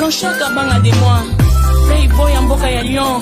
Blanchard Kabanga de moi Playboy ya mboka ya Lyon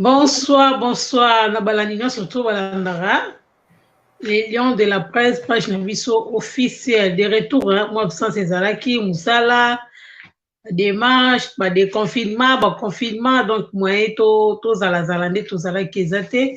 Bonsoir, bonsoir. Na balandi nyonso to balandaka. Les lions de la presse, page na biso officielle. De retour, hein, moi absence ezalaki musala, démarche, ba déconfinement, ba confinement, donc moyen to tozala zala nde tozalaki eza te.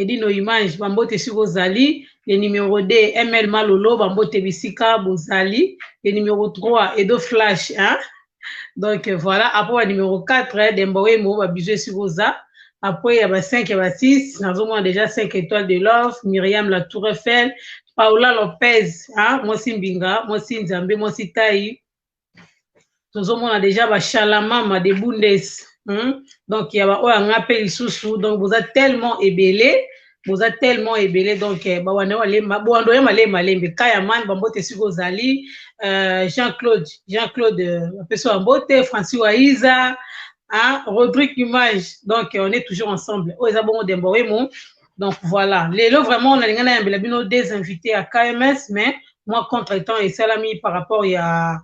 edi no image bambote esika ozali le numero 2 ml malolo bambote bisika bozali le numero 3 edo flash hein? donc voilà après ba numero 4 demba wembo babizu esika oza après ya ba 5 ya ba 6 nazomona déjà 5 étoile de love miriam la tour eiffel paola lopez hein? mwasi mbinga mwasi nzambe mwasi tai tozomona deja bashalamama de bundes hmm? donc ya baoyo anga mpe lisusu donc boza tellement ebele boza tellement ebele donc eh, bawana malemba boando ya malembe malembe kayaman bambote esika ozali euh, jean claude jean claude euh, apeso bambote francis waiza hein, rodrigue image donc on est toujours ensemble oyo eza bongo dembo wemo Donc voilà, lelo vraiment on a lingana ya mbela bino des invités à KMS mais moi contre temps et salami par rapport ya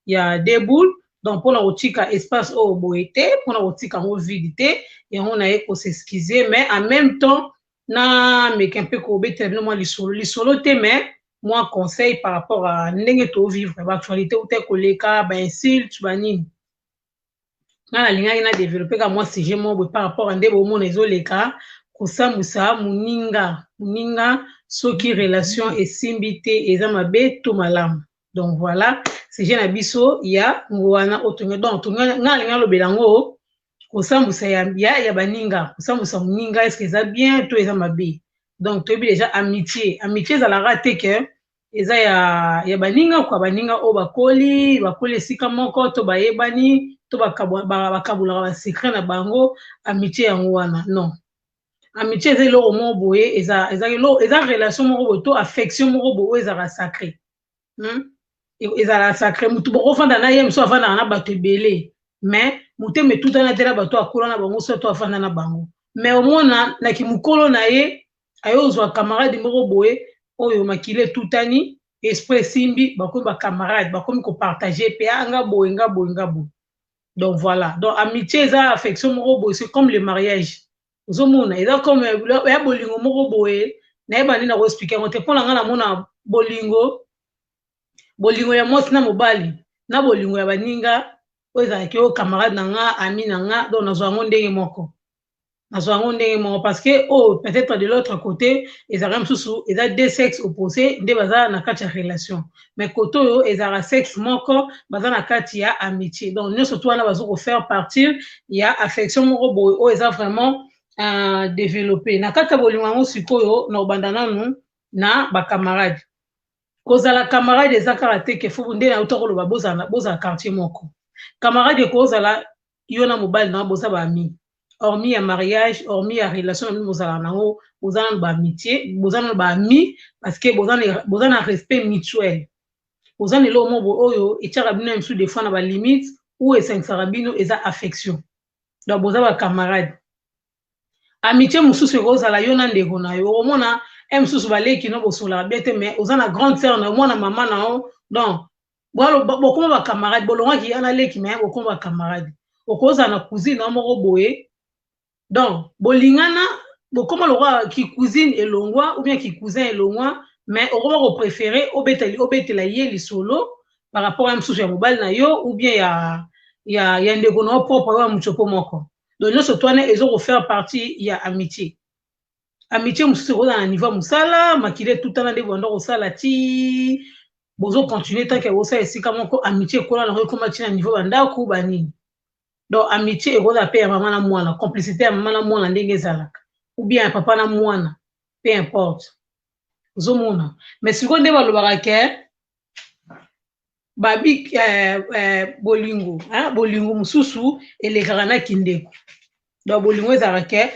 ya des boules donc pona kotika espace oyo boye te pona kotika yango vide te yango naye ko s'excuser mais en même temps na meka mpe kobetela bino mwa lisolo lisolo te mais mwa conseil par rapport à ndenge to vivre ba actualité uta koleka ba insulte ba nini nga nalingaki na develope ka mwa sujet moko boye par rapport a nde bomona ezoleka kosambwisa moninga moninga soki relation esimbi te eza mabe to malamu donc voilà sujet na biso ya ngowana otonga donc nga nalingi nalobela yango kosambwisa ya, ya, ya baninga kosambwisa moninga eske eza bien to eza mabe donc toyebi deja amitié amitié ezalaka te ke eza ya ya baninga kwa baninga oyo bakoli bakoli esika moko to bayebani to bakabulaka basecret na bango amitie yango wana non amitie eza eloko moko boye eza eza eloko eza relation moko boye to affection moko boye oyo ezalaka sacre hmm? ezalaka sacre motu bokofanda na ye mosusu afandaka na bato ebele mais motema etutana te na bato akola na bango soki to afanda na bango mais omona na kimokolo na ye aye ozwa camarade moko boye oyo makila etutani esprit esimbi bakomi bacamarade bakomi kopartage mpe a ah, nga boye nga boye nga boye donc voilà donc amitié eza affection moko boye c'est comme le mariage ozomona eza comme ya bolingo moko boye nayeba nde nakoexplike yango te mpo na ngai namona bolingo bolingo ya mwasi na mobali na bolingo ya baninga oyo ezalaki oyo camarade na nga ami na nga donc nazwa yango ndenge moko nazwa yango ndenge moko parce que oyo oh, peut-être de l'autre côté ezalaka mosusu eza deux sexe opposé nde baza na kati ya relation mais kote oyo ezalaka sexe moko baza na kati ya amitié donc nyonso to wana bazo kofaire partir ya affection moko boye oyo eza vraiment uh, développé na kati ya bolingo yango sikoyo na obanda nanu na bacamarade kozala camarade eza kaka te ke fo nde nauta koloba bozala quartier moko camarade ekozala yo na mobali na boza ba amis hormis ya mariage hormis ya relation na bino bozalaka na yango boza nano ba amitié boza nano ba amis parce que boza na, boza na respect mutuel boza na eloko moko oyo etiaka bino ya mosusu des fois na ba limite ou esangisaka bino eza affection donc boza ba camarade amitie mosusu ekozala yo na ndeko na yo omona e mosusu baleki no bosolaka bie te mais oza na grande sœur na yo mwana mama na yo donc bokoma bacamarade bolongaki ya na leki mais bokoma bacamarade okozala na cousine na yo moko boye donc bolingana bokoma lokola kicousine elongwa ou bien kicousin elongwa mais okoba kopréféré obetela, obetela ye lisolo par rapport ya mosusu ya mobali na yo ou bien ya, ya, ya ndeko na yo propre oyo ya mocopo moko donc nyonso to wana ezo kofaire partie ya amitié amitié mosusu ekozala na niveau ya mosala makila etutana nde banda kosala ti bozo continue tanke bosala esika moko amitié ekola nango ekoma ti na niveau bandako banini donc amitié ekozala mpe ya mama na mwana complicité ya mama na mwana ndenge ezalaka ou bien ya papa na mwana peu importe ozomona mais sikoyo nde balobaka ke babi eh, eh, bolingo hein? bolingo mosusu elekaka na kindeko donc bolingo ezalaka ke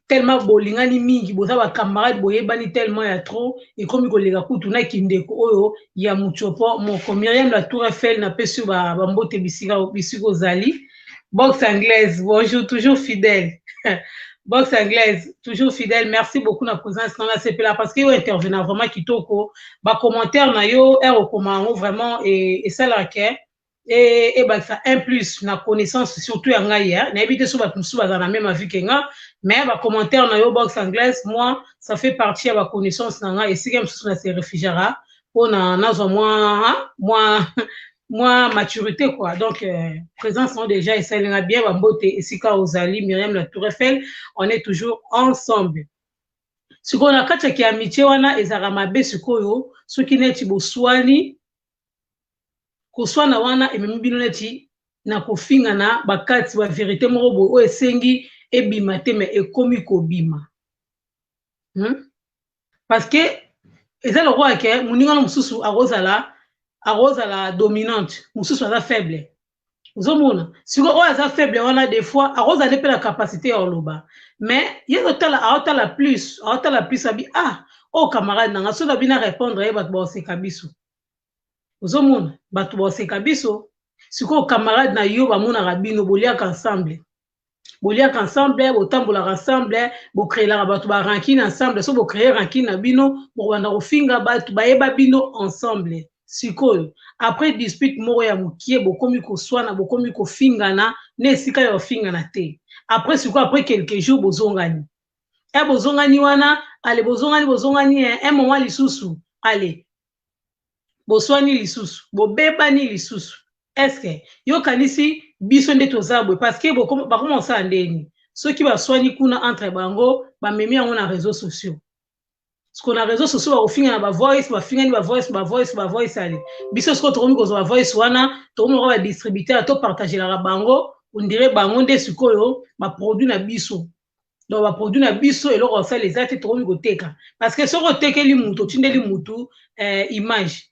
tellement bolingani mingi boza bacamarade boyebani tellement ya trop ekomi koleka kutu na kindeko oyo ya motiopo moko miriam la tour eiffel napesi yo bambote bisika ozali Box anglaise, bonjour, toujours fidèle. Box anglaise, toujours fidèle. Merci beaucoup na présence na la CPLA parce que yo intervenant vraiment kitoko. Ba commentaire na yo, er okoma yango vraiment et et ça la que et et ba ça un plus na connaissance surtout ya ngai hein. Na ebite so ba musu ba na même avis que nga, mais ba commentaire na yo box anglaise, moi ça fait partie ya ba connaissance na nga et si comme ça na se réfugiera pona nazwa mwa mwa mwa maturité quoi donc euh, présence on déjà esali nga bien bambote esika ozali miriam la tour eiffel on est toujours ensemble sikoyo na kati ya kiamitie wana ezalaka mabe sikoyo soki neti boswani koswana wana ememi bino neti na kofingana bakati baverité moko boye oyo esengi ebima te me ekomi kobima hmm? parce que eza lokola ke moninga no mosusu akozala akozala dominante mosusu aza faible ozomona siko oyo aza faible wana des fois akozala nde mpe na capacité ya koloba mais ye azotala aotala plus aotala plus abi ah oyo oh, camarade nanga soki abi na répondre ye bato baoseka biso ozomona bato baoseka biso sikoyo camarade na yo bamonaka bino boliaka ensemble boliaka ensemble botambolaka ensemble bocreelaka bato ba rankine ensemble so bocree rankine na bino bokobanda kofinga bato bayeba bino ensemble sikoyo après dispute moko ya mokie bokomi koswana bokomi kofingana na esika ya ofingana te après sikoyo après quelques jours bozongani e eh, bozongani wana ale bozongani bozongani eh, un moment lisusu ale boswani lisusu bobebani lisusu eske yo kanisi biso nde toza boye parce que bakoma kosala ndeni soki baswani kuna entre bango bamemi yango na réseau sociaux siko na réseau sociaux bakofinga na bavoice bafingani bavoice bavoice bavoice ale biso sikoyo tokomi kozwa bavoice wana tokomi lokola badistributeur topartagelaka bango ondire bango nde sikoyo baproduit na biso donc baproduit na biso eloko basala eza te tokomi koteka parce que soki otekeli motu otindeli motu eh, image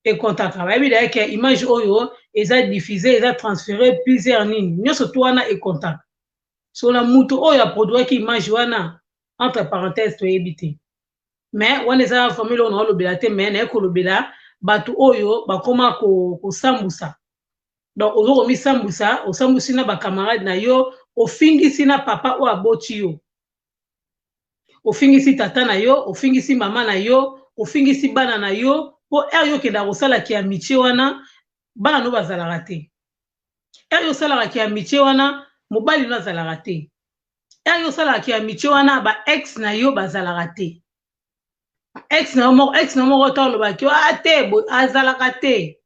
ekontaka bayebi daya ke image oyo eza diffuse eza transfere plusieurs nini nyonso to wana ekontaka so na motu oyo aproduiraki image wana entre parenthèse toyebi te mais wana eza vraiment eloko naolobela te mais naye kolobela bato oyo bakoma kosambusa ko donc ozo komisambwisa osambwisi na bacamarade na yo ofingisi na papa oyo aboti yo ofingisi tata na yo ofingisi mama na yo ofingisi bana na yo mpo ere yo okendaka kosala ki amitie wana bana no bazalaka te ere yo osalaka ki amitie wana mobali no azalaka te ere yo osalaka ki amitie wana ba ex na yo bazalaka te ex na yo moko ex na yo moko ota olobaki a ah, te azalaka te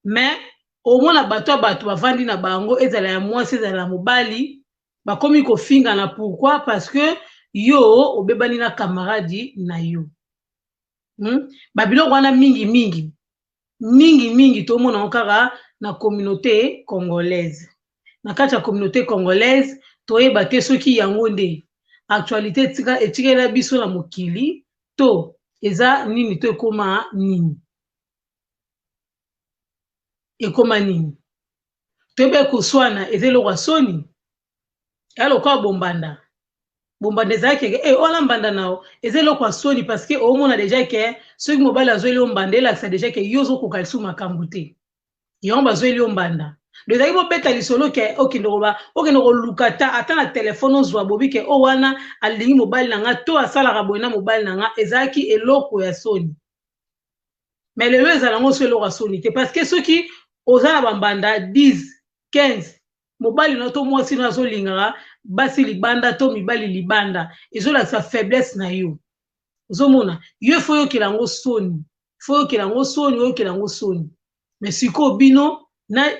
mais omona bato ya bato bavandi na bango ezala ya mwasi ezala ya mobali bakomi kofingana pourquoi parce que yo obebani na camarade na yo hmm? babiloko wana mingi mingi mingi mingi tomona yango kaka na communauté congolaise na kati ya communauté congolaise toyeba te soki yango nde actualité etikela biso na mokili to eza nini to ekoma nini ekoma nini toyeba koswana eza eloko ya soni ya lokola bombanda bombanda ezalaki eke e eh, wana mbanda na yo eza eloko ya soni parce que omona deja ke soki mobali azweli yo mbanda elakisa deja ke yo ozokoka lisusu makambo te yango bazweli yo mbanda do ezalaki bobeta lisolo ke okende koba okende koluka ta ata na telefone ozwa bobi ke o oh, wana alingi mobali na nga to asalaka boye na mobali na nga ezalaki eloko ya soni mais lelo ezala yango so eloko ya soni te parce que soki oza na bambanda 10 15 mobali na to mwasi na azolingaka basi libanda to mibali libanda ezolakisa faiblesse na yo ozomona yo fo oyokela yango soni fo oyokela yango soni oyokela yango soni mais sikoyo bino na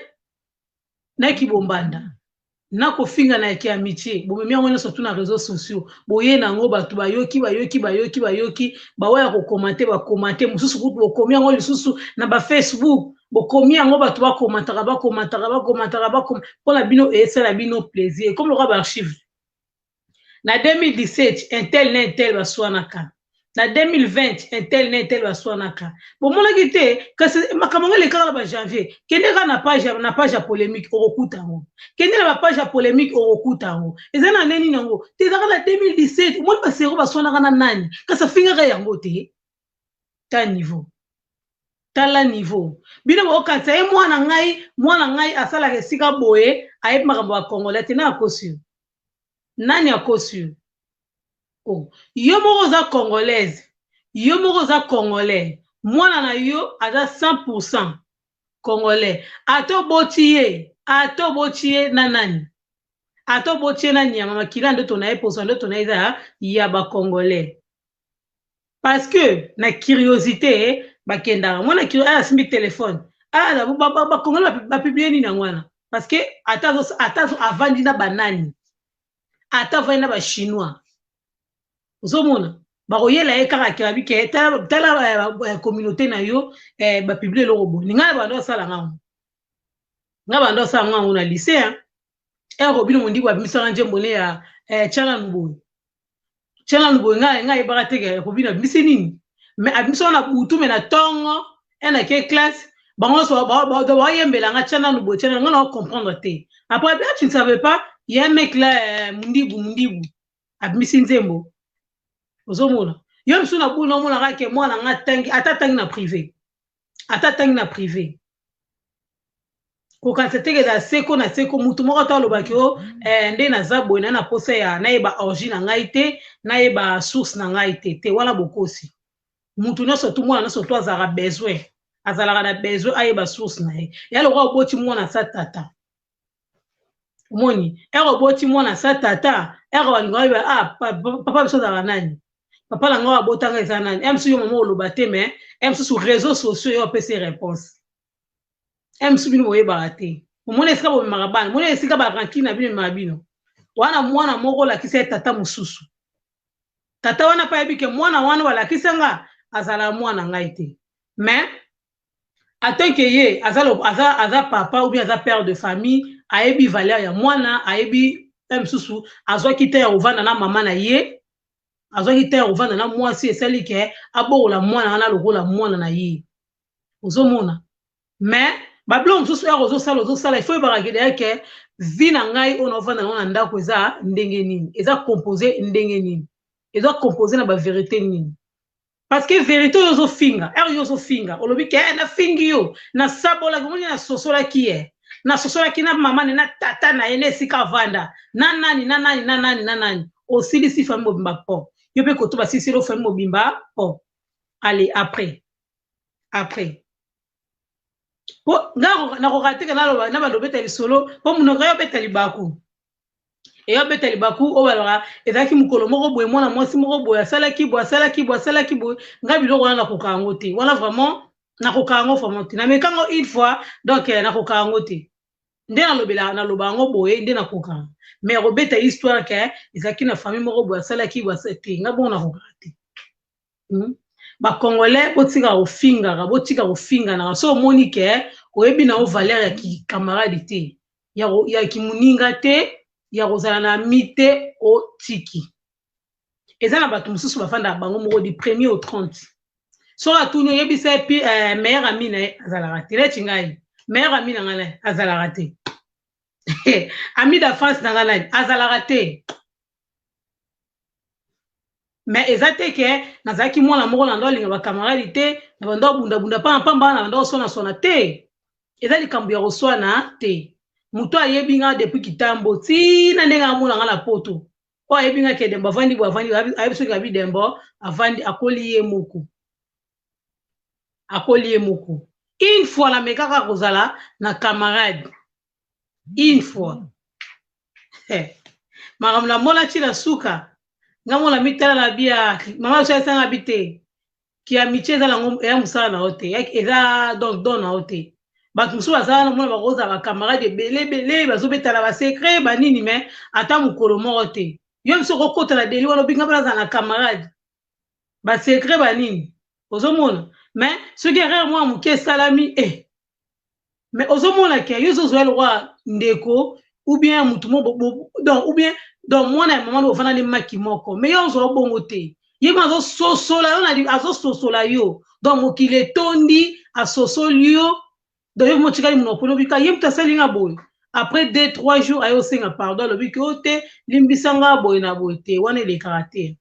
na kibombanda na kofinga na yake ya mitie bomemi yango nyonso tu na réseau sociaux boye na yango bato bayoki bayoki bayoki bayoki baoyo ya kokomante bakomante mosusu kutu bokomi yango lisusu na bafacebook bokomi yango bato bakomataka bakomataka bakomataka bakoma mpo na bino esala bino plaisir ekomi lokola baarchive na 2017 un tel na un tel baswanaka na 2020 un tel na un tel baswanaka bomonaki te kasi makambo yango elekaka na bajanvier kende kaka na page ya- na page ya polémique okokuta yango kende na bapage ya polémique okokuta yango eza na nde nini yango te ezaka na 2017 omoni basero baswanaka na nani kasi afingaka yango te ta niveau tala niveau bino bokanisa ye mwana ngai mwana ngai asalaka esika boye ayebi makambo ya congolais te na akosi yo nani akosi yo oh. yo moko oza congolaise yo moko oza congolais mwana na yo aza 100 congolais ata oboti ye ata oboti ye na nani ata oboti ye na nyama makila ndoto na ye posa ndoto na ye eza ya bacongolais parce que na curiosité bakendaka mwana kiro aya asimbi telefone aya bakongoli bapiblie nini yango wana parce que ata avandi na banani ata avandi na bachinois ozomona bakoyela ye kaka kirabi ke tala eh, eh, communauté na yo eh, bapiblie eloko boni ngai na bando asala ngango ngai bando asala ngango na lycée eh, robino mondibu abimisaka njembo ne ya eh, chana luboye chana luboye nga nga ayebaka te ke robino abimisi nini me abimisaka na butu me na ntongo e na ke classe bango nyonso bayembela nga chana luboye chana nga na ocomprendre te après bien tu ne savais pas ye mec la eh, mundibu mundibu abimisi nzembo ozomona yo mosusu na bulu naomonaka ke mwana nga atangi ata atangi na privé ata atangi na privé kokanisa teke na seko na seko motu moko ata alobaki o oh, eh, nde naza boye na na posa ya nayeba origine na ngai te nayeba source na ngai te te wana bokosi motu nyonso tu mwana nyonso tu azalaka besoin azalaka na besoin ayeba source na ye ya lokola oboti mwana sa tata omoni ere oboti mwana sa tata ere balinga oyeba ah, papa biso azalaka nani papa na ngai abotanga eza nani ere mosusu yo mama oloba te mais ere mosusu réseau sociaux yo opesi réponse eh, mosusu bino boyebaka te omona esika bomemaka bana omona esika barankine na bino ememaka bino wana mwana moko olakisa ye tata mosusu tata wana mpe ayebi ke mwana wana balakisa nga azalaka mwana ngai te mais atant ke ye aza, aza, aza papa ou bien aza père de famille ayebi valeur ya mwana ayebi mpe mosusu azwaki te ya kovanda na mama na ye azwaki te ya kovanda na mwasi esali ke abokola mwana wana lokola mwana na ye ozomona mais babiloko mosusu yaka ozosala ozosala ifo oyebaka kede yake vi na ngai oyo naofanda nango na ndako eza ndenge nini eza compose ndenge nini eza compose na baverité nini parce que verité oyo ozofinga ere yo ozofinga olobi ke eh, nafingi yo nasabolaki omoni nasosolaki ye eh. nasosolaki na mama ne na tata na ye na esika avanda na nani na nani na nani na nani osilisi fami mobimba po yo mpe koto basiliseli ofami mobimba po ale après après po nga nakoka teke naloba na bando obeta lisolo po monoko yo obeta libaku eyo obeta libaku oyo baloba ezalaki mokolo moko boye mwana mwasi moko boye asalaki boye asalaki boye asalaki boye nga biloko wana nakoka yango te wana vraiment nakoka yango vraiment te nameka yango une fois donc eh, nakoka yango te nde nalobela naloba yango boye nde nakoka mais akobeta histoire ke ezalaki na famille moko boye asalaki boye te nga bongo nakoka te hmm? bacongolais botika kofingaka botika kofinganaka so omoni ke oyebi na yo valeur ya kikamarade te ya, ya kimoninga te ya kozala na ami te otiki eza na bato mosusu bafandaka bango moko di premier au 30 soki atuni oyebisa ye pi eh, meilleur ami na ye azalaka te neti ngai meilleur ami na ngai azalaka te ami d'enfance na ngai nani azalaka te me eza te ke nazalaki mwana moko na ndao alinga bacamarade te na bandao abundabunda mpana mpamba na bandao oswanaswana te eza likambo ya koswana te moto ayebi nga depuis kitambo tina ndenge amona nga na poto oyo ayebi nga kedembo avandi bo avandi ayebi soki abi dembo avandi akoli ye moko akoli ye moko une fois namekaka kozala na camarade une fois makambo namonaki na suka nga mona mitala na bia mama oso esanga bi te kiamitie eza nango eya mosala na yo te eza donc don na yo te bato mosusu baza wana mona bakozala bacamarade ebele ebele bazobetana basecret banini mai ata mokolo moko te yo biso okokota na deli wana obinga mpe nazala na camarade ba secret ba nini ozomona mais soki erreur mwa moke esalami eh. mais ozomona ke yo ozozwa lokwa ndeko ou bien motu mo donc ou bien donc mwana ya mama bofana nde maki moko mais yo ozwa bongo te ye kuna azososola yo na azososola yo donc mokili etondi asosoli yo donc yo motikali monoko olobi ka ye moto asali nga boye après deux trois jours aye osenga pardon alobi ke o te limbisa nga boye na boye te wana elekaka te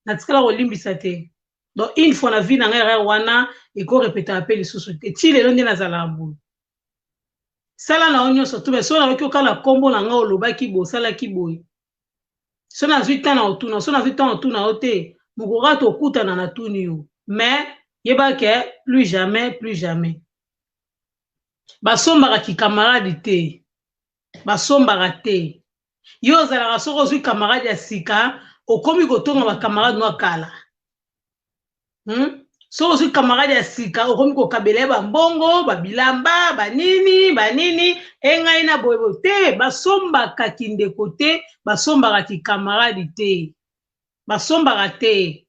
natikala kolimbisa te donc une fois na vie na ngai erreur wana ekorepetaka mpe lisusu te ti lelo nde nazalaka boye sala na yo nyonso tu mai so nayoki okala nkombo na ngai olobaki boye osalaki boye so nazwi ntan na otuna so nazwi ntan otuna yo te mokoka tokutana na tuni yo mais yeba ke plus jamais plus jamais basombaka kikamarade te basombaka te yo ozalaka soki ozwi camarade ya sika okomi kotonga bacamarade nwa kala hmm? soki ozwi camarade ya sika okomi kokabela ye bambongo babilamba banini banini engai na boyebo te basombaka kindeko te basombaka kikamaradi te basombaka te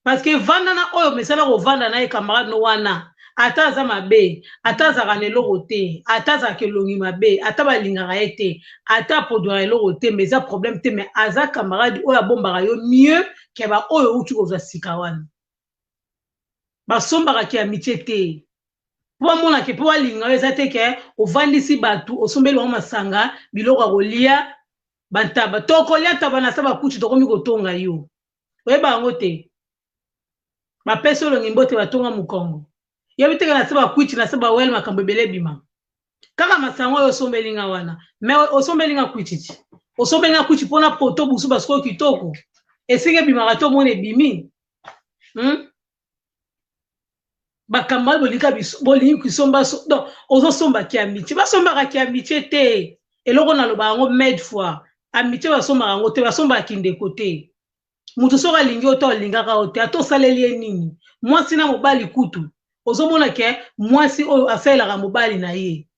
parce que vanda na oyo mesana kovanda na ye camarade no wana ata aza mabe ata azalaka na eloko te ata azalaka elongi mabe ata balingaka ye te ata apodwaka eloko te mais eza problème te mais aza camarade oyo abombaka yo mieux ke baoyo outi kozwa sika wana basombaka ke amitie te mpo bamonake mpo balinga yo eza te ke ovandisi bato osombeli bango masanga biloko ya kolia bantaba tokolia ntaba na sa bakuti tokomi kotonga yo oyeba yango te bapesi olongi mbote batonga mokongo yebi teke na se bakwiti na se bawele makambo ebele ebima kaka masanga oyo osombeli nga wana me osombeli nga kwititi osombeli nga kwiti mpona poto busu basikoyo kitoko esika ebimaka to omona ebimi hmm? makambo wana bolika bolingi kisomba donc ozosomba ki amitie basombaka ki amitie te eloko naloba yango made fois amitie basombaka yango te basombaka kindeko te moto soki alingi yo to alingaka yo te ata osaleli ye nini mwasi na mobali kutu ozomona ke mwasi oyo asalelaka mobali na ye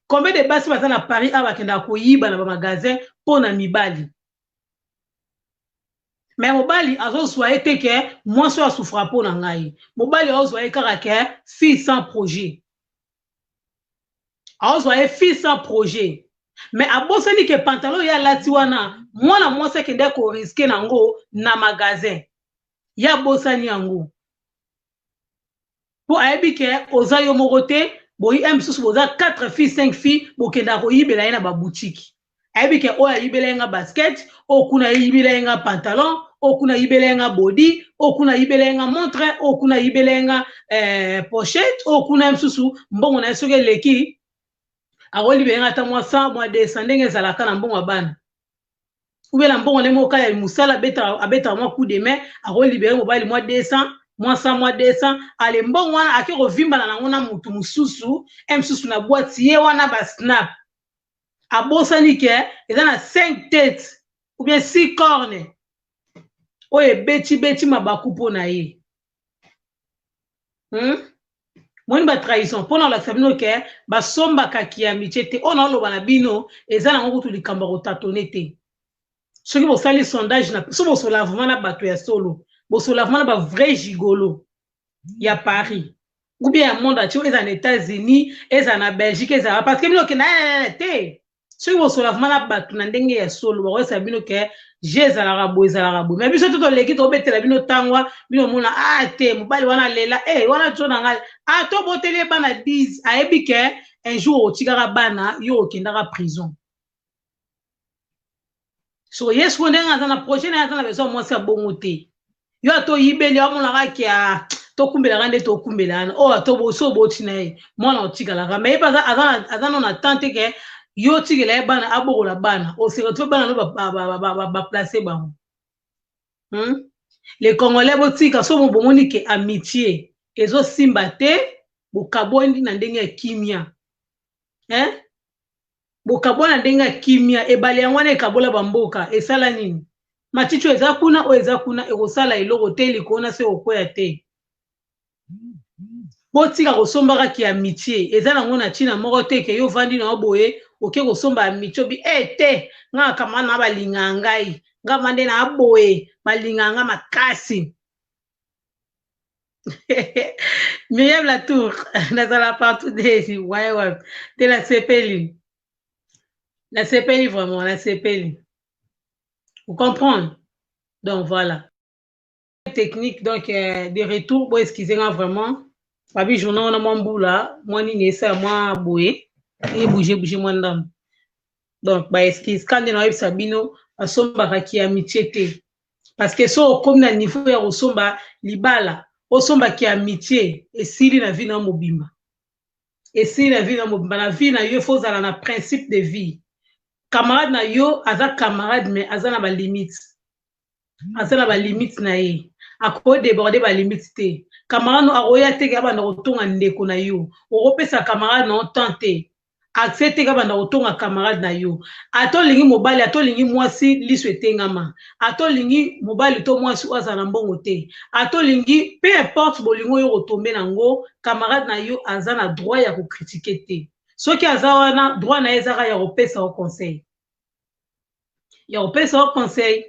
combien de basi baza na paris awa bakendaka koyiba na bamagasin mpo na mibali me mobali azozwa ye te ke mwasi oyo asufra mpo na ngai mobali aozwa ye kaka ke fille sans projet aozwa ye fille sans projet me abosani ke pantalon ye alati wana mwana mwasi akendaki koriske nango na magasin ye abosani yango mpo ayebi ke oza yo moko te boyi un mosusu boza 4 filles 5 filles bokendaka koyibela ye na babutiki ayebi ke oyo ayibela ye nga basket oyo kuna ayibela ye nga pantalon oyo kuna ayibela ye nga bodi oyo kuna ayibela ye nga montre oyo kuna ayibela ye nga eh, pochette oyo kuna ye mosusu mbongo na ye soki eleki akolibela ye nga ata mwa 100 mwa 200 ndenge ezalaka na mbongo ya bana ou bien na mbongo ne moka ya musala abeta abeta mwa coup de main ako libérer mobali mwa 200 mwa 100 mwa 200 ale mbongo wana ake kovimbana nango na mutu mususu e mususu na boîte ye wana ba snap abosani ke eza na 5 tete ou bien 6 corne oyo ebeti beti mabaku mpo na ye hmm? moni batrahison mpo na kolakisa bino ke basombaka kiamice te oyo naoloba na bino eza nango kutu likambo ya kotatone te soki bosali sondage na so bosola vraimen na bato ya solo bosola vraimen na bavrai gigolo ya paris oubien ya monde atie ezala na états-unis ezala na belgique ezala parce que bino okenda eh, eh, eh, te soki bosola vraimen na bato na ndenge ya solo bakoyesa bino ke je ezalaka boye ezalaka boye mai biso to toleki tobetela bino ntango bino omona a ah, te mobali wana lela e eh, wana tso na ngai a ah, toboteli ye bana 10 ayebi ke un jour otikaka bana yo okendaka prison so ye sikoyo ndenge aza na projet naye aza na besoin mwasi ya bongo te yo ata oyibeli amonaka ke ah, tokumbelaka nde tokumbela wana oyo oh, ata obosi oboti na ye mwana otikalaka ma ye mpe aza no na temps te ke yo otikela ye bana abokola bana oseretrouve oh, bana no baplace bango hmm? le congolais botika so bomoni ke amitié ezosimba te bokabwani na ndenge ya kimia eh? bokabwana ndenge ya kimia ebale yango wana ekabola bamboka esala nini maticho eza kuna oyo eza kuna ekosala eloko te likolo na se okoya te botika kosombaka ki amitie eza nango na ntina moko te ke yo vandi na yo boye oke kosomba amitie obi e eh, te ngaa kamana balingaka ngai nga vande na boye balingaka nga makasi Miriam Latour, nazala partout des ouais ouais, de la sepeli. La sepeli vraiment, la sepeli. Vous comprenez? Donc voilà. Technique donc euh, de retour, bon excusez-moi vraiment. Babi journal na mwa mbula, mwa nini esa mwa boye, e bouger bouger mwa ndambo. Donc ba excuse, quand na yebisa bino, asombaka ki amitié te. parce que so okomi na niveau ya kosomba libala osomba ki amitié esili na vie na mobimba esili na vie na mobimba na vie na yo faut ozala na principe de vie camarade na yo aza camarade mais aza na balimite aza na balimite na ye akoki deborde balimite te camarade no akoya teke abanda kotonga ndeko na yo okopesa camarade na yo temps te accès te ka banda kotonga camarade na yo ata olingi mobali ata olingi mwasi liso etengama ata olingi mobali to mwasi oyo azala na mbongo te ata olingi peu importe bolingo yo kotombe na ngo camarade na yo aza na droit ya kokritike te soki aza wana droit na ye ezaka ya kopesa yo conseil ya kopesa yo conseil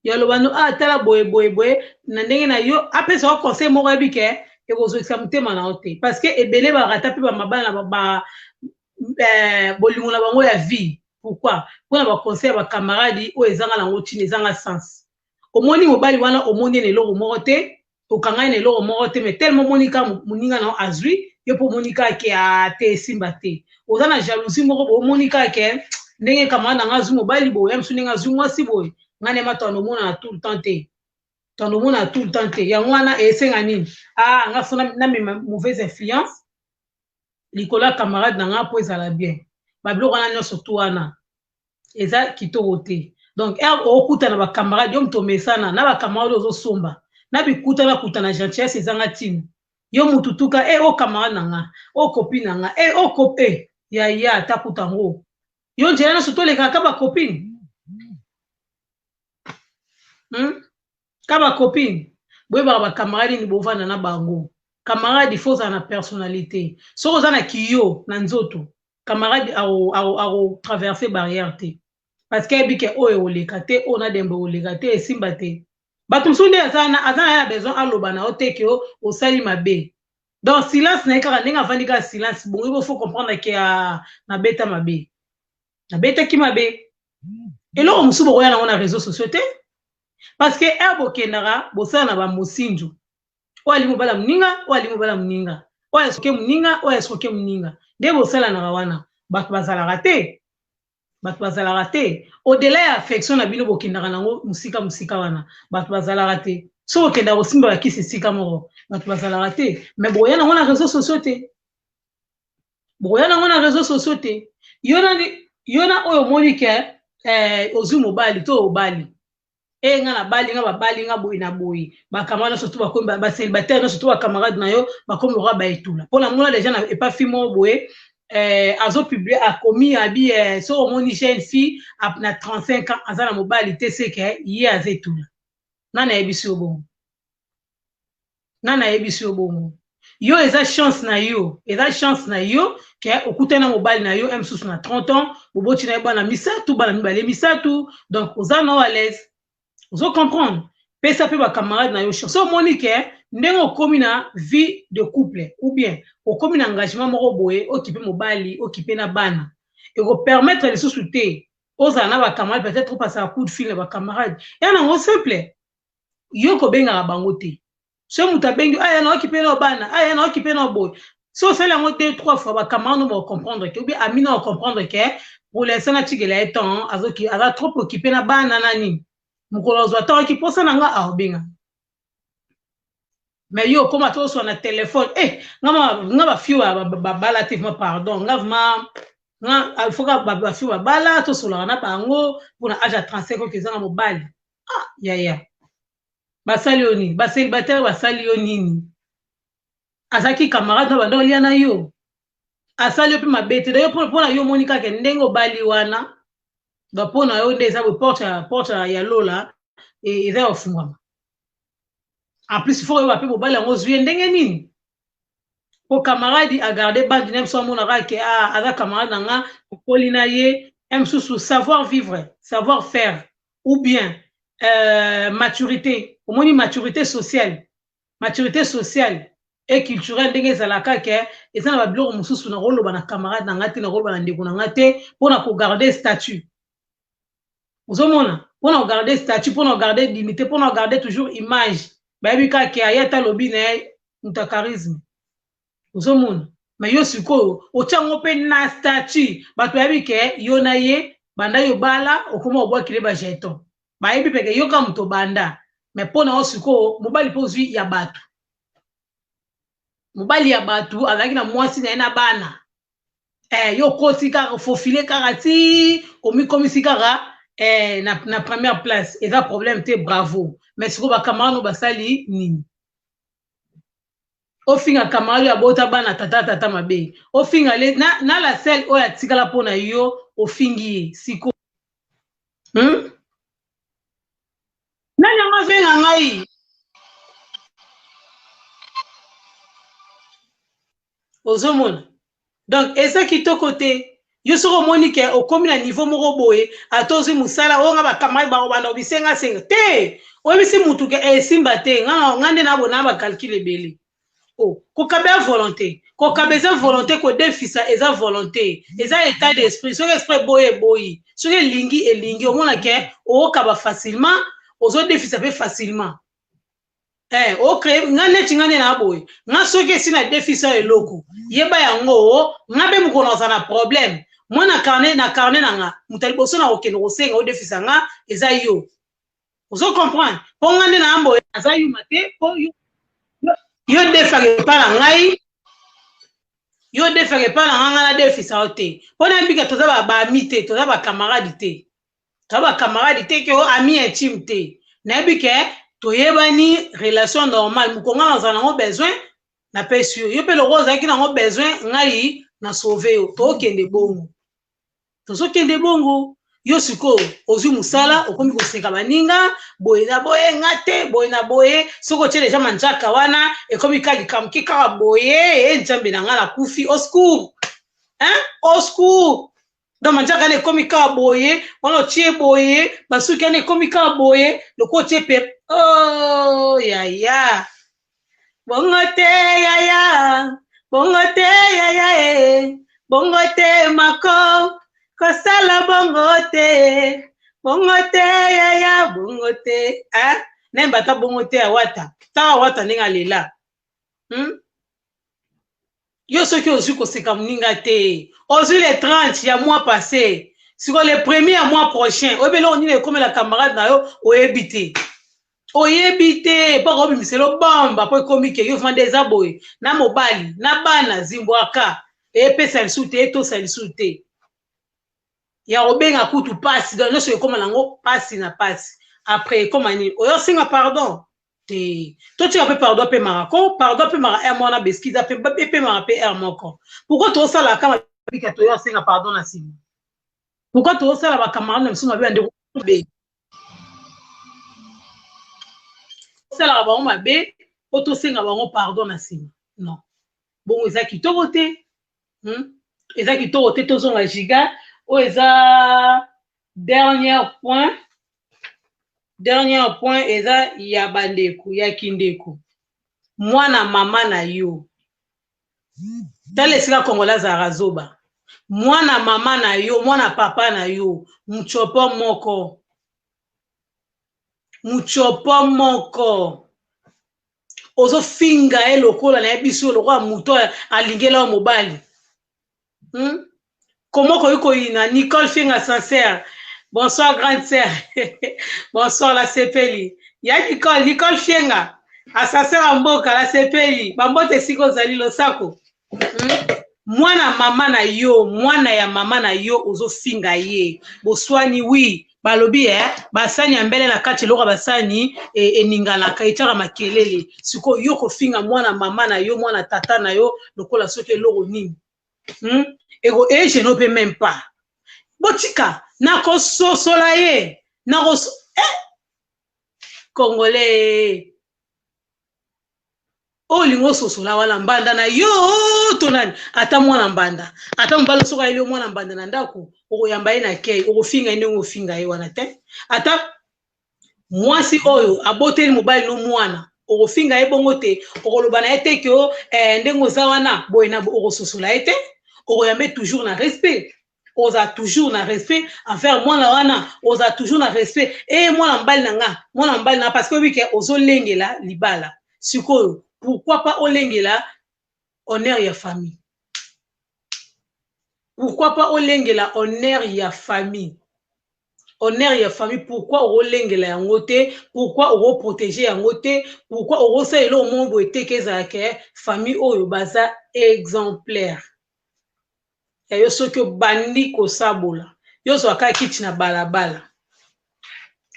ya loba no ah tala boye boye boye na ndenge na yo apesa yo conseil moko yebi ke ekozokisa motema na yo te parce que ebele barata mpe bamabala na ba, eh, bolingo na bango ya vie pourquoi mpo na baconseil ya bacamaradi oyo ezanga nango ntina ezanga sens omoni mobali wana omoni ye na eloko moko te okanga ye na eloko moko te mais tellement omoni ka moninga na yo azwi yo mpe omoni kaka ke a ah, te esimba te oza na jalousie moko boye omoni kaka ke ndenge kamara na nga azwi mobali boye ya mosu ndenge azwi mwasi boye ngai na yema tando omonana tout le temps te tando omonana tout le temps te yango wana esenga nini a ah, nga fo namema mauvaise influence likolo ya camarade na nga mpo ezala bien babiloko wana nyonso tu wana eza kitoko te donc heure okutana ba camarade yo moto omesana na ba camarade oyo ozosomba na bikutana kutana gentillesse ezanga ntina yo moto tuka e eh, o oh, camarade na nga o oh, copine na nga e eh, o cope e yaya takuta yango yo njela nyonso tolekaka kaka bacopine hmm? ka ba copine boyebaka ba camarade nini bovanda na bango camarade il faut ozala na personnalite soki oza na kiyo na nzoto camarade ako traverse barrière te parce que ayebi ke oyo ekoleka te oyo na dembo ekoleka te esimba te bato mosusu nde aza na ye na besoin aloba na yo te ke osali mabe donc silence na ye kaka ndenge avandi kaka silence bongo bofo comprendre ke ah, nabeta mabe nabetaki mabe eloko mosusu bokoya nango na réseau sociaux te parce que heure bokendaka bosala na bamosinzo oyo alingi mobala moninga oyo alingi mobala moninga oyo asoke moninga oyo asoke moninga nde bosalanaka wana bato bazalaka te bato bazalaka te odela ya affection na bino bokendaka nango mosika mosika wana bato bazalaka te so okendaka kosimba bakisi esika moko bato bazalaka te me boya nango na réseau sociaux te bokoya nango na réseau sociaux te yo na yo na oyo omoni ke eh, ozwi mobali to obali e eh, nga nabali nga babali nga boye na boye bakama nyonso to bakomi baselibataire nyonso to bacamarade na yo bakomi lokola baetula mpo namona deja na epa fi moko boye eh, azopublie akomi abi eh, soki omoni jeune fille na 35 ans aza na mobali te seke ye aza etula nani ayebisi yo bongo nani ayebisi yo bongo yo eza chance na yo eza chance na yo ke okutani na mobali na yo ya mosusu na 30 ans boboti na ye bana misato bana mibale misato donc oza nao alaise ozo comprendre pesa mpe bacamarade na yo chance omoni ke ndenge okomi na vie de couple ou bien okomi na engagement moko boye okipe mobali okipe na bana ekopermettre lisusu te ozala na bacamarade peut-être opasaka coup de fil na bacamarade ya nango simple yo kobengaka bango te so moto abengi aya naoki mpe nao bana aya naoki mpe nao boye so osali yango deux trois fois bacamarade nao bacomprendre te oubien ami nao acomprendre ke pour l'instant natikela ye temps azoki aza trop occupe na bana na nini mokolo azwa temps aki mposa na nga aobenga mais yo okoma to oswa na telefone e eh, nga bafio babala te vrima pardon nga vrima nga alfoka bafio babala tosolaka na bango mpona age ya 35 oyo ezanga mobali ah yaya basali yo nini baselibatare basali yo nini azalaki camarade na banda olia na yo asali yo mpe mabe te dayo mpo na yo omoni kaka ndenge obali wana ba mpo na yo nde eza boye porte ya porte ya lola e, eza ya kofungwama en plus fo oyeba mpe mobali yango ozwi ye ndenge nini po camarade a garde bande na ye mosusu amonaka ke ah, aza camarade na nga okoli na ye ya mosusu savoir vivre savoir faire ou bien euh, maturité omoni maturité sociale maturité sociale e culturel ndenge ezalaka ke eza na babiloko mosusu nakoloba na camarade na nga te nakoloba na ndeko na nga te mpo na kogarde statut ozomona mpona kogarde statut mpona kogarde dignité mpona kogarde toujours image bayebi kaka ke aye ata alobi na ye moto ya charisme ozomona me yo sikoyo otyango mpe na statut bato bayebi ke yo na ye banda yo bala okoma obwakile bajeton bayebi mpe ke yoka moto banda me mpo na yo sikoyo mobali mpe ozwi ya bato mobali ya bato azalaki na mwasi na ye na bana eh, yo okoti kaka fofile kaka ti omikomisi kaka eh, na, na première place eza problème te bravo mais sikoyo bakamarade no basali nini ofinga kamarade oyo abota bana tata tata mabe ofinga le, na, na la selle oyo atikala mpo na yo ofingi ye sikoyo hmm? nani yango avenga ngai ozomona donc eza kitoko te yo soki omoni ke okomi na niveau moko boye ata ozwi mosala oyo nga bakamai bakobanda kobisengasenga te oyebisi mutu ke esimba eh, te nga nga nde nabona bacalcule ebele o oh, kokaba ya volonté kokaba eza volonté kodefisa eza volonté eza état d'esprit soki esprit eboyi eboyi soki elingi elingi omona ke okaba facilement ozodefisa mpe facilement eh, o cree nga neti nga nde na boye nga soki esi na defisa eloko yeba yango oh, nga mpe mokolo naza na problème mwa na carnet na carnet na nga moto ya liboso na kokende kosenga odefisa nga eza yo ozo comprendre mpo nga nde na boye aza yuma te mpo yo yo defaka epa na ngai yo defaka epa na ngai nga na defisa yo te mpo nayebika toza babami te toza bacamarade te to ba camarade te ke o oh, ami intime te nayebi ke toyebani relation normale moko ngai nazala nango besoin napesi yo yo mpe lokola ozalaki nango besoin ngai na sauve yo tokende bongo tozokende bongo yo sikoyo ozwi mosala okomi koseka baninga boye na boye nga te boye na boye soki otye deja manjaka wana ekomi ka likambo ke kaka boye e nzambe na ngai nakufi oscour hein oscour donc manjaka wana ekomi kaka boye wana otie boye basuki wana ekomi kaka boye lokola otie pe o oh, yaya bongo te yaya bongo te yaya e bongo te mako kosala bongo te bongo te yaya bongo te eh? nayemba ata bongo te awata tala awata ndenge alela hmm? yo soki ozwi koseka moninga te ozwi le 30 ya mois passé siko le premier ya mois prochain oyebi eloko nini ekomela camarade na yo oyebi te oyebi te mpo akobimisa elo bomba mpo ekomi ke yo vanda eza boye na mobali na bana zimbwaka epesa lisu te etosa lisu te ya kobenga kutu mpasi donc nyonso ekoma nango mpasi na mpasi après ekoma nini oyosinga pardon te totika mpe pardon apemaka ko pardon apemaka r mwana beskiza epemaka mpe r moko pourkui tosalaka kama bika toyo asenga pardon na nsima pourkui tosala bakamarade na biso mabe bandeko mabe tosalaka bango mabe mpo tosenga bango pardon na nsima non bongo eza kitoko te hmm? eza kitoko te tozonga giga oyo eza Dernière point, dernière point eza ya bandeko, ya kindeko. Mwana mama na yo. Tala esika Congolais azalaka zoba. Mwana mama na yo, mwana papa na yo, mtshopo moko. Mtshopo moko. Ozofinga ye lokola na ye biso lokola moto alingela yo mobali. hmm? koma okoki koyina nicole finga sincère bonsoir grande sœur bonsoir la sepeli ya nicole nicole fienga asaseur ya mboka la sepeli bambote esika ozali losako hmm? mwana mama na yo mwana ya mama na yo ozofinga ye boswani wi balobi eh, basani ya mbele na kati eloko ya basani e, eninganaka etyaka makelele sikoyo yo kofinga mwana mama na yo mwana tata na yo lokola soki eloko nini hmm? eko egene mpe meme pas botika nakososola ye nakos eh! congolais oyo olingi ososola wana mbanda na yo to nani ata mwana mbanda ata mobali soki ayeli yo mwana mbanda na ndako okoyamba ye na kei okofinga ye ndenge ofinga ye wana te ata mwasi oyo aboteli mobali no mwana okofinga ye bongo te okoloba na ye te ke eh, ndenge oza wana boye na okososola ye te okoyambe toujours na respect oza toujours na respect envers mwana wana oza toujours na respect eye mwana mobali na nga mwana mobali na parce que oyebi ke ozolengela libala sikoyo pourquoi pas olengela honneur ya famille pourquoi pas olengela honneur ya famille honneur ya famille pourquoi okolengela yango te pourquoi okoprotege yango te pourquoi okosala eloko moko boye te ke ezala ke famille oyo baza exemplaire ya yo soki obandi kosabola yo ozwa kaka kiti na balabala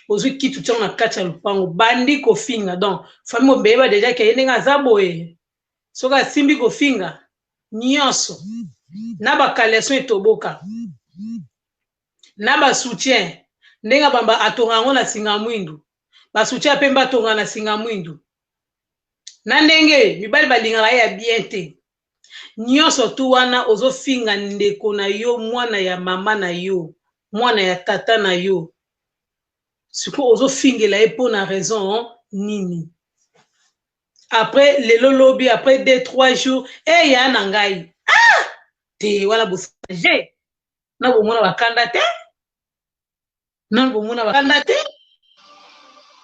ozwi kiti otiango na kati ya lopango bandi kofinga donc fami mobeyeba deja ke ye ndenge aza boye soki asimbi kofinga nyonso na bakaleson etoboka na basoutien ndenge abamba atonga yango na singa mwindu basoutien ya pembe atonga na singa mwindu na ndenge mibali balingaka ye ya bien te nionso tout wana ozo finga ndeko na yo mwana ya maman na yo mwana ya tata na yo sikoyo ozo fingela ye pona raison nini après lelo lobi après deux trois jours eh ya na ngai ah te wana bosage na bomona bakanda te nanu bomona bakanda te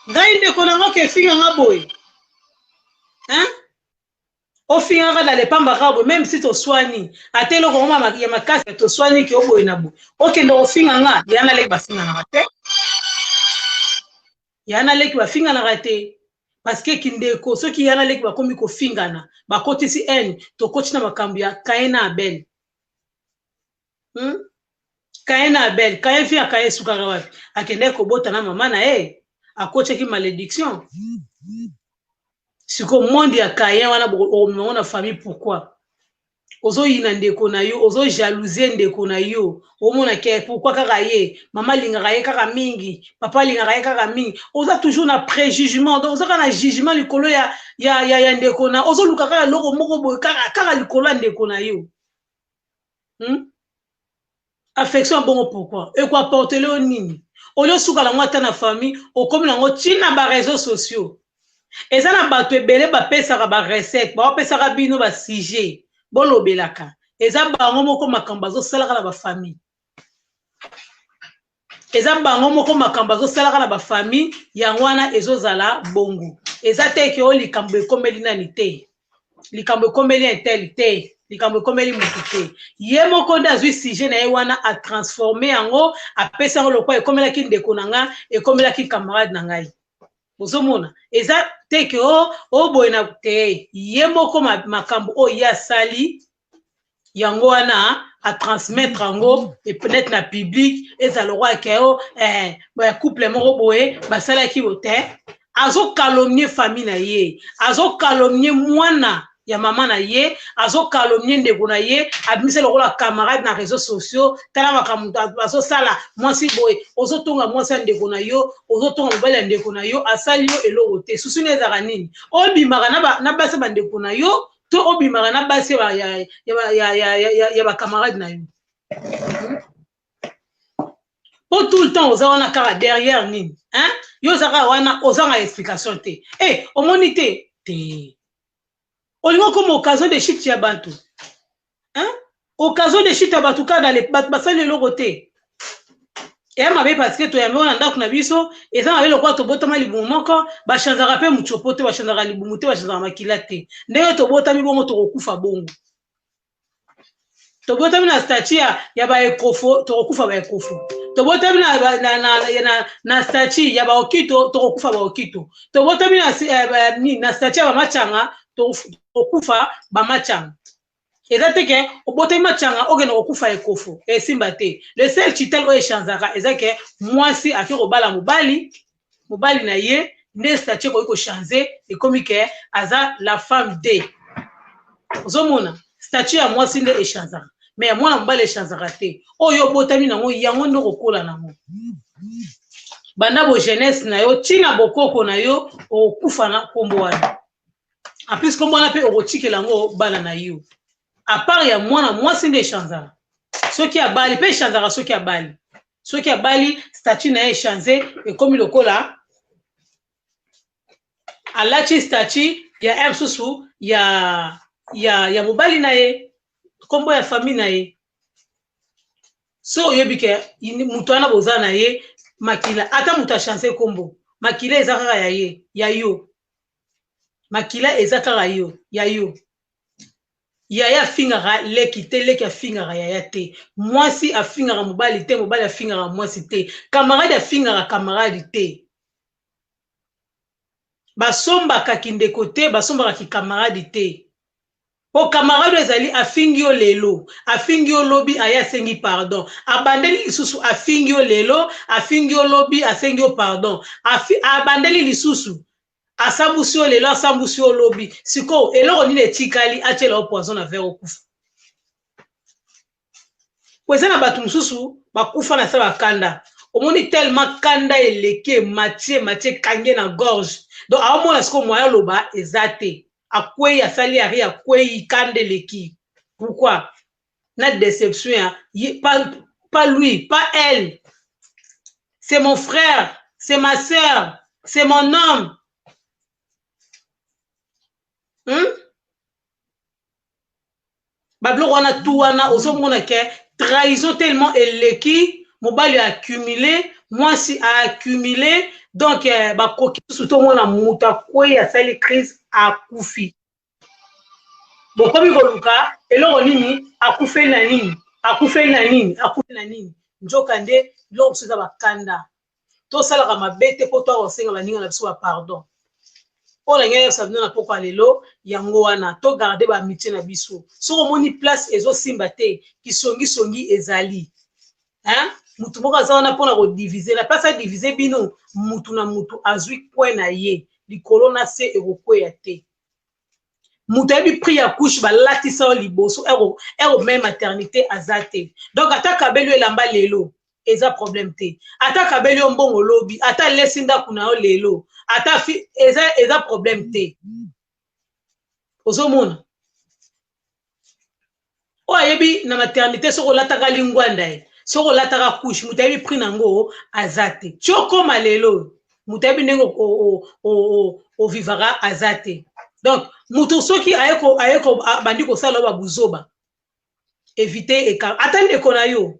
ngai ndeko nango kefinga nga boye hein ofingaka na lepamba kaka boye meme si toswani ata eloko yango ma- ya makasi ya toswani ke oboye na boye okende kofinga nga ya na leki bafinganaka te ya na leki bafinganaka te parceke kindeko soki ya na leki bakomi kofingana bakotisi haine tokoti na makambo ya kain na abel hmm? kaye na abel kaye fi ya kaye esukaka wapi akendaki kobota na mama na ye akotaki malédiction siko monde ya kayen wana okomemango na famille pourquoi ozoyina ndeko na yo ozojalousie ndeko na yo omona ke pourkui kaka ye mama alingaka ye kaka mingi papa alingaka ye kaka mingi oza toujours na préjugement donc oza kaka na jugement likolo ya, ya, ya, ya ndeko na ozoluka kaka eloko moko boye kaka, kaka likolo ya ndeko na yo hmm? affection bongo pourquoi ekoaportele yo nini olio suka nango ata na famille okomi nango ntina ba réseaux sociaux eza na bato ebele bapesaka barecette bapesaka bino basujet bolobelaka eza bango moko makambo bazosalaka na bafamille eza bango moko makambo azosalaka na bafamille yango wana ezozala bongo eza te ke o oh, likambo ekomeli nani te likambo ekomeli intel te likambo ekomeli motu te ye moko nde azwi sujet na ye wana atransforme yango apesi yango lokola ekomelaki ndeko na nga ekomelaki camarade na ngai ozomona eza te ke o oh, oboye oh, na te ye moko makambo oyo ye asali yango wana atransmettre yango peut-être na public ezala lokola ke o eh, couple moko boye basalaki yo te azokalomnie famille na ye azokalomnie mwana ya mama na ye azokalomnie ndeko na ye abimisa lokola camarade na réseau sociaux tala makambo azosala mwasi boye ozotonga mwasi ya ndeko na yo ozotonga mobali ya ndeko na yo asali yo eloko te susu nde ezalaka nini obimaka na basi bandeko na yo to obimaka na basi ya bacamarade na yo po hmm? tout le temps oza wana kaka derrière nini hein? yo oza kaka wana ozanga explication te e eh, hey, omoni te te olingi okoma occasion de shift ya bantu hein? occasion de chute ya bato kaka dale bato basali eloko te eya mabe parce que toyambi wana ndako na biso eza mabe lokola tobotama libumu moko bachanzaka mpe mocopo te bachanzaka libumu te bachanzaka makila te ndenge tobotami bongo tokokufa bongo tobotami na statu ya, ya baekofo tokokufa baekofo tobotami na, na, na, na, na, na statu ya baokito tokokufa baokito tobotami na, eh, na statu ya bamachanga tokokufa bamachanga eza te ke obotami matianga okende kokufa ekofo esimba te le seul chital oyo echanzaka eza ke mwasi ake kobala mobali mobali na ye nde statut ekoki kochange ekomi ke aza la femme de ozomona statut ya mwasi nde echanzaka me ya mwana mobali echanzaka te oyo obotami nango yango nde okokola nango banda bo jeunesse na yo ntina bokoko na yo okokufa na nkombo wana en plus kombo wana mpe okotikela yango bana na yo apart ya mwana mwasi nde echanzaka soki abali mpe echanzaka soki abali soki abali statut na ye echanze ekomi lokola alati statut ya r susu ya ya ya mobali na ye nkombo ya famille na ye so oyebi ke moto wana boza na ye makila ata moto achanse nkombo makila eza kaka ya ye ya yo makila eza kaka yo ya yo yaya afingaka leki te leki afingaka yaya te mwasi afingaka mobali te mobali afingaka mwasi te kamaradi afingaka kamaradi te basombaka kindeko te basombaka kikamaradi te Po camarade oyo ezali afingi yo lelo afingi yo lobi aye asengi pardon abandeli lisusu afingi yo lelo afingi yo lobi asengi yo pardon afi abandeli lisusu asambusi yo lelo asambusi yo lobi sikoyo eloko nini etikali atiela yo poison na verre okufa. po eza na bato mosusu bakufa na sala kanda omoni tellement kanda eleki emati emati ekangi ye na gorge donc aomona sikoyo moyen aloba eza te akwei asali ya ri akwei kanda eleki pourquoi na deception ya ye pa, pa lui pa elle c'est mon frère c'est ma sœur c'est mon homme hmm? babiloko wana tu wana ozomona ke trahison tellement eleki mobali accumule mwasi accumule donc eh, bakoki susu tomona moto akwei asali crise akufi bokomi koluka eloko nini akufeli na nini akufeli na nini akufeli na nini nzoka nde biloko mosusu eza bakanda tosalaka mabe te mpo toya kosenga baninga na biso bapardon mpo na ngai yosala bino na poko ya lelo yango wana togarde baamitie na biso soki omoni place ezosimba te kisongisongi ezali hein? mutu moko aza wana mpona kodivise na place adivise bino mutu na mutu azwi coin na ye likolo na se ekokweya te moto ayebi prix ya couche balatisa yo liboso ero mai maternité aza te donc ata kabeli yo elamba lelo eza problème te ata kabeli yo mbongo lobi ata lesi ndako na yo lelo ata fi eza, eza problème te ozomona oyo ayebi na maternité soki olataka lingwanda ye soki olataka couche moto ayebi prix na yango aza te ti okoma lelo oyo moto ayebi ndenge ovivaka aza te donc moto soki aye abandi kosala yo babuzoba evite ata ndeko na yo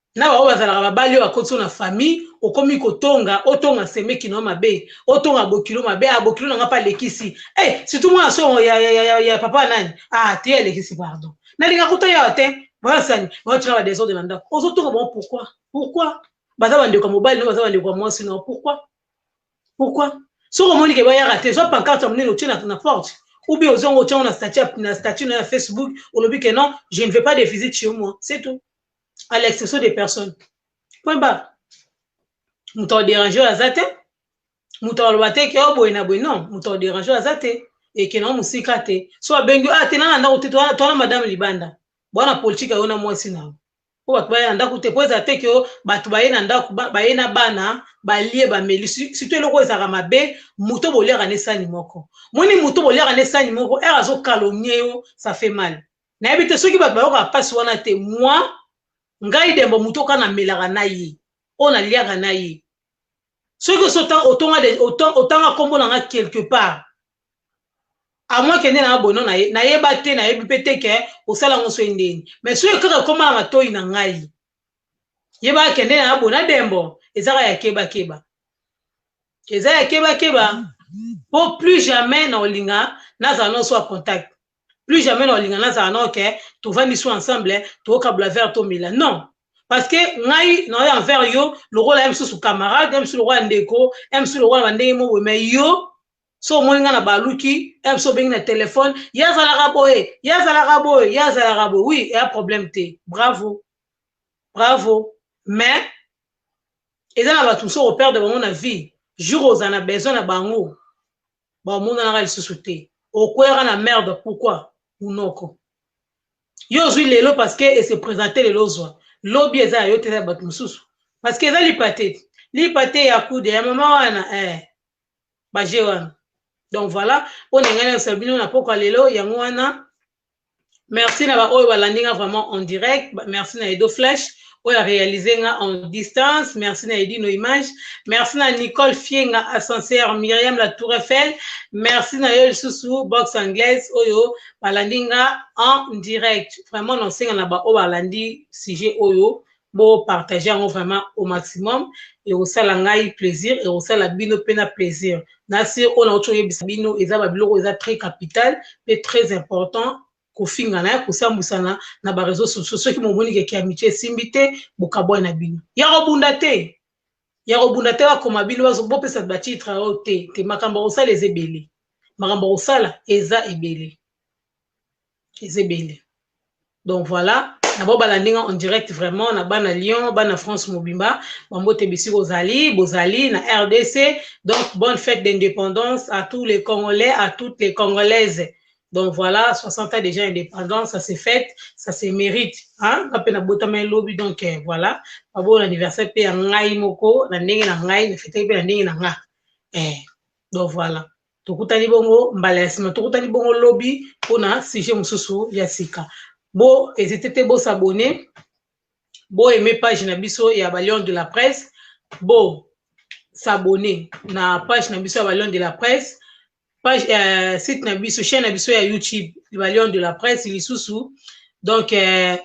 na ba oyo bazalaka babali oyo akotisi yo na famille okomi kotonga otonga semeki na yo mabe otonga bokilo mabe ah bokilo na nga pe alekisi eh surtout mwana songo ya, ya, ya, ya, ya papa nani ah te alekisi pardon nalinga kuta yawa te basani baotika ba desordre na ndako ozotonga bango pourquoi pourquoi baza bandeko ya mobali no baza bandeko ya mwasi no pourquoi pourquoi soki omoni ke bayaka te zwa pancarte ya monene otie na, na porte ou bien ozonga otiango na statut na statut na ya facebook olobi ke non je ne veux pas de visite chez moi c'est tout à l'exception des personnes point barre moto akoderange oyo aza te moto akoloba te ke oboye na boye non moto akoderange oyo aza te eke nango mosika te so abengi a te nana ndako te towana madame libanda bwana politike ayo na mwasi na yo mpo bato baye na ndako te mpo ezala te ke bato baye na ndako baye na bana balie bameli surtout eloko ezalaka mabe moto boliaka na esani moko moni moto boliaka na esani moko ere azokalonie yo ça fait mal nayebi te soki bato bayokaka mpasi wana te mwa ngai dembo moto oka namelaka na ye oyo naliaka na ye soki osi otanga nkombo na nga quelque part amwa kende na nga bono nayeba te nayebi mpe te ke osala yango soki ndeni mai soki kaka ekoma na matoi na ngai yebaka kende na nga bona dembo ezaka ya kebakeba eza ya kebakeba mpo plus jamais na olinga nazala noso ya contact plus jamais na olinga nazala na oke tovandi so ensemble tookabula vert tomela non parce que ngai naoyo envers yo lokola ya mosusu camarade ya mosusu lokola ndeko ya mosusu lokola na ndenge moko me yo so omoni ngai na baluki ya mosusu obengi na telefone ye azalaka boye ye azalaka boye ye azalaka boye oui eya problème te bravo bravo mais eza na bato mosusu operde bango na vie jour ozala na besoin na bango baomonanaka lisusu te okweyaka na merde pourquoi munoko yo ozwi lelo parce que ese présente lelo ozwa lobi eza ya yo te eza ya bato mosusu parce que eza lipa te lipa te ya kude ya mama wana eh, baje wana donc voilà mpo na ngai nayosa bino na pokwa lelo yango wana merci na baoyo balandi nga vraiment en direct merci na edo flash oyo arealise nga en distance merci na edino image merci na nicole fienga ascenseur myriam la tour eiffel merci na yo lisusu box anglaise oyo balandi nga en direct vraiment nasenga na baoyo balandi sujet oyo bo partager yango vraiment au maximum ekosala ngai plaisir ekosala bino mpe na plaisir na se oyo nauti oyebisa bino eza babiloko eza très capital mpe très important kofingana ya kosambwisana na bareseau sociaux soki momoni keke amitie esimbi te bokabwai na bino ya kobunda te ya kobunda te bakoma bino bopesa batitre oyo oh, te te makambo akosala eza ebele makambo akosala eza ebele eza ebele donc voilà na bao balandi nga en direct vraiment na bana lyon bana france mobimba bambote bisika ozali bozali na rdc donc bonne fête d'indépendance à tous les congolais à toutes les congolaises donc voilà 60 ans déjà indépendance ça se fête ça se mérite hein nga mpe nabotama elobi donc eh, voilà baboo na anniversaire mpe ya ngai moko na ndenge na ngai na fetaki mpe na ndenge na nga eh, donc voilà tokutani bongo mbala ya nsima tokutani bongo lobi mpo na sujet mosusu ya sika bo ezite te bosabone bo aime page na biso ya balion de la presse bo sabone na page na biso ya balion de la presse page uh, site na biso chaîne na biso ya youtube balion de la presse lisusu donc uh,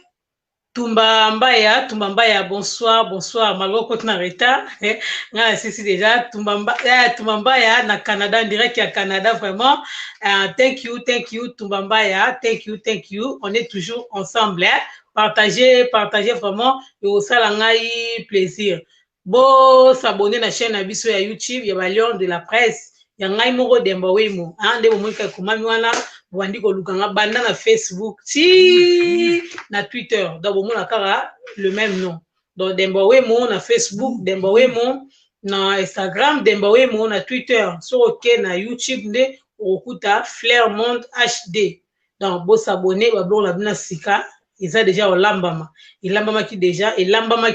Tumba Mbaya, Tumba Mbaya, bonsoir, bonsoir. Malgré que tu en retard, eh, nga asisi déjà Tumba Mbaya, eh, Tumba Mbaya na Canada, en direct ya Canada vraiment. Uh, thank you, thank you Tumba Mbaya, thank you, thank you. On est toujours ensemble. Eh. Partagez, partagez vraiment. Yo sala ngai plaisir. Bo s'abonner na chaîne na biso ya YouTube ya ba Lion de la Presse ya ngai moko Demba Wemo. Ah nde bomoni kaka ekomami wana bobandi koluka nga banda na Facebook ti na Twitter. Donc bomona kaka le même nom. Donc Demba Wemo na Facebook, Demba Wemo na Instagram, Demba Wemo na Twitter. Soki oke na YouTube nde okokuta Flair Monde HD. Donc bo s'abonner ba biloko na bino ya sika eza deja olambama. Elambamaki deja, elambamaki